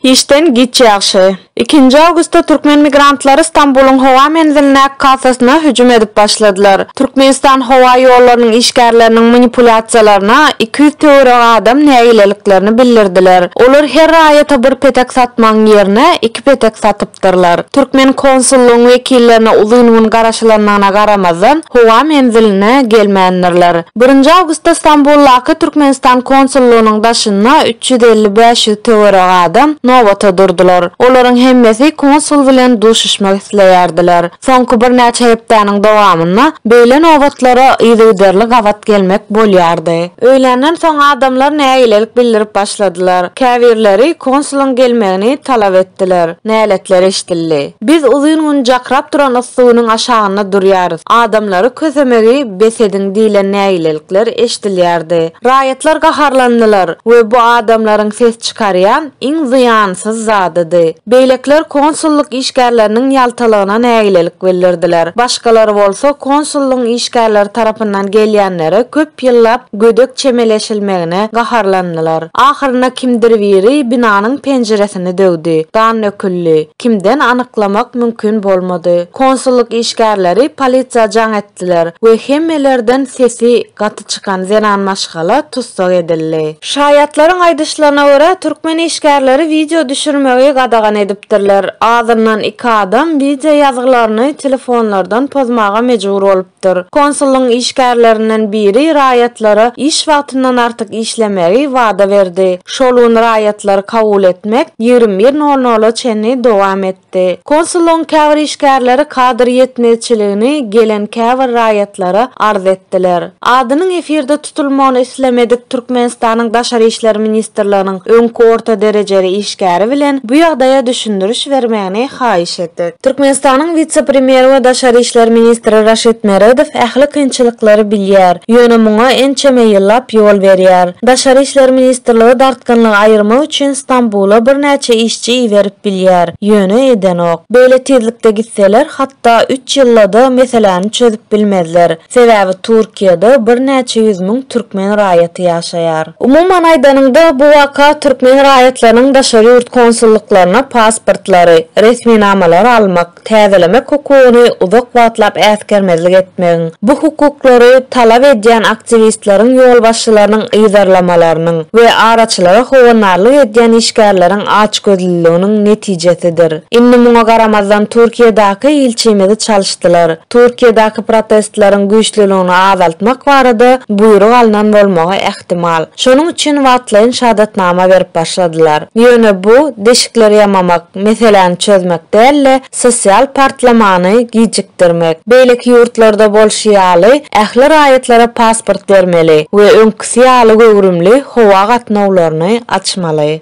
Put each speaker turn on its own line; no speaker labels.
Işden giç ýagşy. Ikinji awgustda türkmen migrantlary Stambulyň howa menzilindäki kassasyna hüjüm edip başladylar. Türkmenistan howa ýollarynyň işgärleriniň manipulýasiýalaryna iki ýüz töweregi adam nägileliklerini bildirdiler. Olar her raýata bir petek satmagyň ýerine iki petek satyp, gatnaşypdyrlar. Türkmen konsullygyň wekillerine uzyn gün garaşylandygyna garamazdan, howa menziline gelmändirler. Birinji awgustda Stambuldaky Türkmenistan konsullygynyň daşynda üç ýüz elli, bäş ýüz töweregi adam nobata durdular. Olaryň hemmesi konsul bilen duşuşmak isleýärdiler. Soňky birnäçe hepdäniň dowamynda beýle nobatlara yzygiderli gabat gelmek bolýardy. Öýländen soň adamlar nägilelik bildirip başladylar. Käbirleri konsulyň gelmegini talap etdiler. Näletler eşidildi. Biz uzyn gün jakrap duran yssy günüň aşagynda durýarys, adamlary kösemegi bes ediň diýlen nägilelikler eşidilýärdi. Raýatlar gaharlandylar we bu adamlaryň ses çykarýan iň zyýansyz zadydy. Beýlekiler konsullyk işgärleriniň ýaltalygyna nägilelik bildirdiler. Başgalar bolsa konsullygyň işgärleri tarapyndan gelýänlere köp ýyllap gödek çemeleşilmegine gaharlandylar. Ahyrynda kimdir biri binanyň penjiresini döwdi. Gan döküldi. Kimden anyklamak mümkin bolmady. Konsullyk işgärleri polisiýa jaň etdiler we hemmelerden sesi gaty çykan zenan maşgala tussag edildi. Şaýatlaryň aýdyşlaryna görä, türkmen işgärleri wideo düşürmegi gadagan edipdirler. Azyndan iki adam wideo ýazgylaryny telefonlardan pozmaga mejbur bolupdyr. Konsullygyň işgärlerinden biri raýatlara iş wagtyndan artyk işlemegi wada berdi. Şol gün raýatlary kabul etmek ýigrimi bir nol nola çenli dowam etdi. etdi. Konsullygyň käbir işgärleri kadr ýetmezçiligini gelen käbir raýatlara arz etdiler. Adynyň efirde tutulmagyny islemedik Türkmenistanyň Daşary işler ministrliginiň öňki orta derejeli işgäri bilen bu ýagdaýa düşündiriş bermegini haýyş etdik. Türkmenistanyň wise-premýeri we daşary işler ministri Raşid Meredow ähli kynçylyklary bilýär, ýöne muňa ençeme ýyllap ýol berýär. Daşary işler ministrligi dartgynlygy aýyrmak üçin Stambula birnäçe işçi çy berip bilýär, ýöne edenok. Beýle tizlikde gitseler hatda üç ýyldada meseläni çözüp bilmezler. Sebäbi Turkiýada birnäçe ýüz müň türkmen raýaty ýaşaýar. Umuman aýdanyňda bu waka türkmen raýatlarynyň daşary ýurt konsullyklaryna pasportlary, resminamalary almak, täzelemek hukugyny uzak wagtlap äsgermezlik etmegiň, bu hukuklary talap edýän aktiwistleriň ýolbaşçylarynyň yzarlamalarynyň we araçylara howandarlyk edýän işgärleriň açgözlüliginiň netijesidir. Indi muňa garamazdan Türkiýedaky ilçimizi çalyşdylar. Türkiýedaky protestleriň güýçlüligini azaltmak barada buýruk alnan bolmagy ähtimal. Şonuň üçin wagtlaýyn şahadatnama berip başladylar. Ýöne bu, deşikleri ýamamak. meseläni çözmek däl-de, sosial partlamany gijikdirmek. Beýleki ýurtlarda bolşy ýaly, ähli raýatlara pasport bermeli we öňküsi ýaly göwrümli howa gatnawlaryny açmaly.